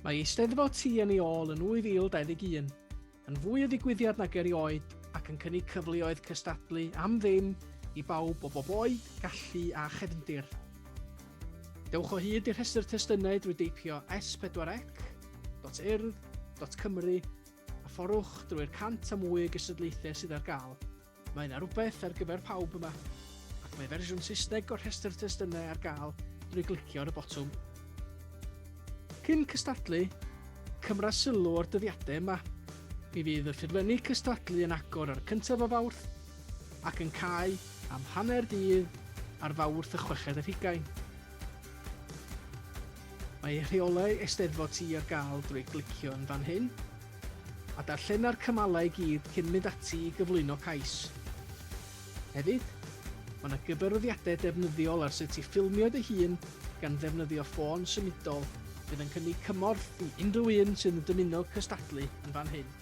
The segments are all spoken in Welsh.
Mae Eisteddfod Ti yn ei ôl yn 2021, yn fwy o ddigwyddiad nag erioed ac yn cynnig cyfleoedd cystadlu am ddim i bawb o bob oed, gallu a chefndir. Dewch o hyd i'r rhestr testunau drwy deipio s4ec.urdd.cymru A phorwch drwy'r 100 a mwy o gystadlaethau sydd ar gael, mae yna rywbeth ar gyfer pawb yma, ac mae fersiwn Saesneg o'r rhestr testunau ar gael drwy glicio ar y botwm. Cyn cystadlu, cymra sylw o'r dyddiadau yma. Mi fydd y ffurflenni cystadlu yn agor ar y cyntaf o Fawrth ac yn cau am hanner dydd ar Fawrth y chweched ar hugain. Mae rheolau Eisteddfod Ti ar gael drwy glicio yn fan hyn, a darllena'r cymalau i gyd cyn mynd ati i gyflwyno cais. Hefyd, mae yna gyfarwyddiadau defnyddiol ar sut i ffilmio dy hun gan ddefnyddio ffôn symudol fydd yn cynnig cymorth i unrhyw un sydd yn dymuno cystadlu yn fan hyn.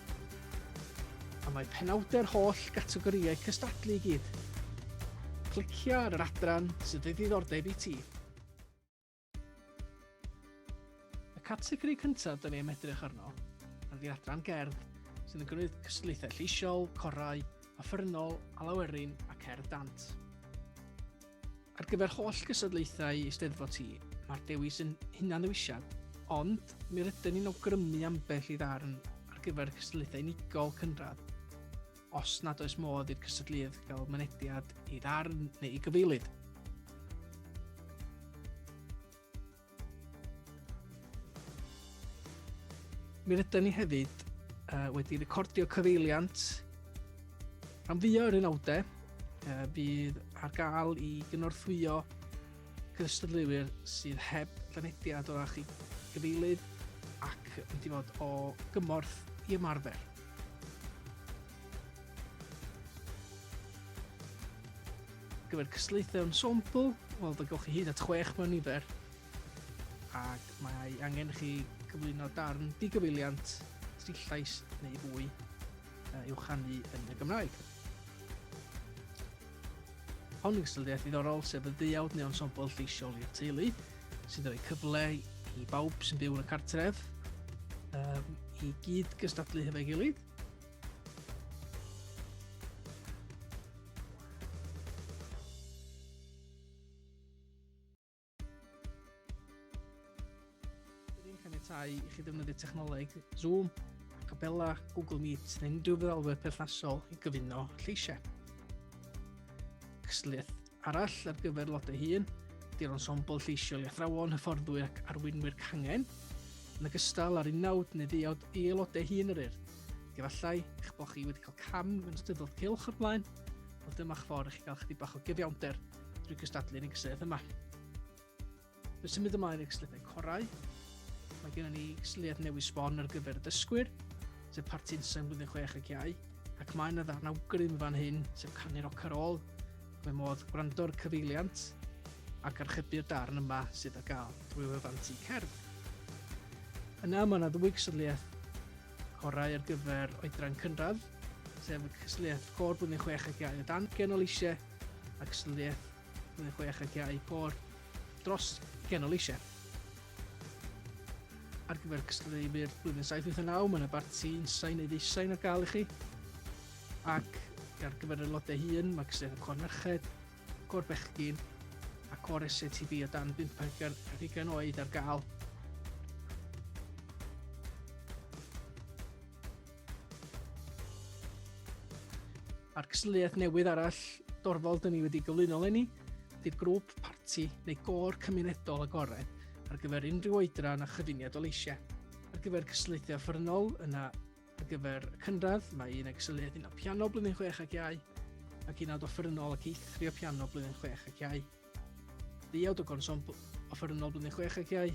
A mae penawdau'r holl gategorïau cystadlu i gyd. Clicia ar yr adran sydd o ddiddordeb i ti. Y categori cyntaf dyn ni am edrych arno ydy adran gerdd sydd yn gwneud cystadlaethau lleisiol, corau, offernol, alawerin a cerdd dant. Ar gyfer holl gystadlaethau Eisteddfod ti, mae'r dewis yn hunan-ddewisiad, ond mi rydyn ni'n awgrymu ambell i ddarn ar gyfer cystadlaethau unigol cynradd. os nad oes modd i'r cystadlydd gael mynediad i ddarn neu i gyfeilid. Mi rydyn ni hefyd uh, wedi recordio cyfeiliant rhan fwyaf yr unawdau uh, bydd ar gael i gynorthwyo cystadleuwyr sydd heb fynediad o'r ach i gyfeilydd ac wedi fod o gymorth i ymarfer. gyfer cystlaethau o'n sampl, wel fe gewch chi hyd at chwech mewn nifer ac mae angen chi cyflwyno darn digyfeiliant tri llais neu fwy uh, i'w chanu yn y Gymraeg. Hon yw ystyriaeth ddiddorol sef y ddeuawd neu ensemble lleisiol i'r teulu, sy'n rhoi cyfle i bawb sy'n byw yn y cartref um, i gyd gystadlu hefo'i gilydd. Rydyn ni'n caniatau i chi ddefnyddio technoleg Zoom, Acapella, Google Meet neu unrhyw feddalwedd perthnasol i gyfuno lleisiau. Cysliaeth arall ar gyfer lodau hun, di'r ensemble lleisiol i athrawon, hyfforddwyr ac arweinwyr cangen, yn ogystal â'r unawd neu ddeuawd i aelodau hun yr urdd. Efallai eich bod chi wedi cael cam yn ystod cylch o'r blaen, ond dyma'ch ffordd i chi gael chydig bach o gyfiawnder drwy gystadlu'r inkseth yma. Fe symud ymlaen i'r sliddau corau. Mae gennym ni sliad newydd sbon ar gyfer y dysgwyr, sef Partinson blwyddyn 6 ac iau, ac mae yna ddarn awgrym fan hyn, sef canu'r ocar ôl, mae modd gwrando'r cyfeiliant ac archebu'r darn yma sydd ar gael drwy wefan tu cerdd. Yna mae yna ddwy gysylliaeth corau ar gyfer oedran cynradd, sef y cysylliaeth cor blwyddyn 6 ac iau o dan genol eisiau ac ystadleuaeth Blwyddyn Chwech ac iau pôr dros Genol Eisiau. Ar gyfer cystadleu i'r Blwyddyn 789, mae yna barti unsain neu ddeusain ar gael i chi. Ac ar gyfer y lodau hun, mae cystadleuaeth y Cor Merched, Cor Bechgyn a Cor SCTB o dan 50 oed ar gael. A'r cystadleuaeth newydd arall dorfol dyn ni wedi gyflwyno lenni, ydy'r grŵp parti neu gôr cymunedol agored ar gyfer unrhyw oedran a chyfuniad o leisiau. Ar gyfer cystadleuthau offerynnol, yna ar gyfer y cynradd, mae un ag cystadleuaeth un o piano blwyddyn 6 ac iau, ac un awd offerynnol ac eithrio piano blwyddyn 6 ac iau. Ddiawd o gonsombl offerynnol blwyddyn 6 ac iau,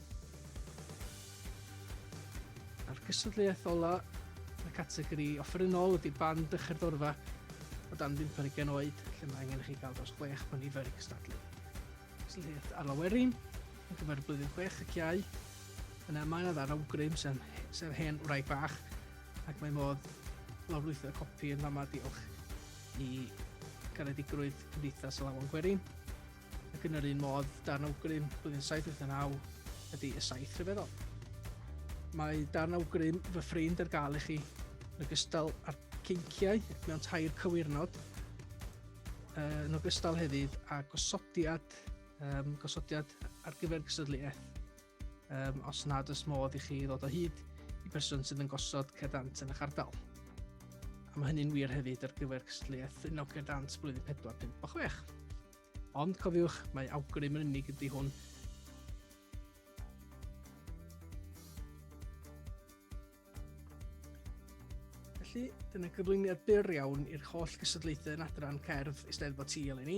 A'r cystadleuaeth ola yn y categori offerynnol ydy band y Cherddorfa o dan 50 oed, lle mae angen i chi gael dros 6 o nifer i gystadlu. Cystadleuaeth ar lawerin, yn gyfer blwyddyn 6 ac iau, yna mae yna ddar awgrym sef, sef hen wraig bach, ac mae modd lawrlwytho copi yn fama diolch i garedigrwydd Cymdeithas y Lawan Gwerin. Ac yn yr un modd, darn awgrym blwyddyn 789 ydy y saith rhyfeddol. Mae darn awgrym fy ffrind ar gael i chi, yn ogystal â'r cynciau mewn tair cywirnod, uh, yn ogystal hefyd a gosodiad, um, gosodiad ar gyfer gystadleuaeth. um, os nad oes modd i chi ddod o hyd i berson sydd yn gosod cerdant yn eich ardal. A mae hynny'n wir hefyd ar gyfer cystadleuaeth yn awgr dant blwyddyn 4, 5 a 6. Ond cofiwch, mae awgrym yn unig ydy hwn Felly, dyna gyflwyniad byr iawn i'r holl gystadlaethau yn adran cerdd Eisteddfod Sul i ni.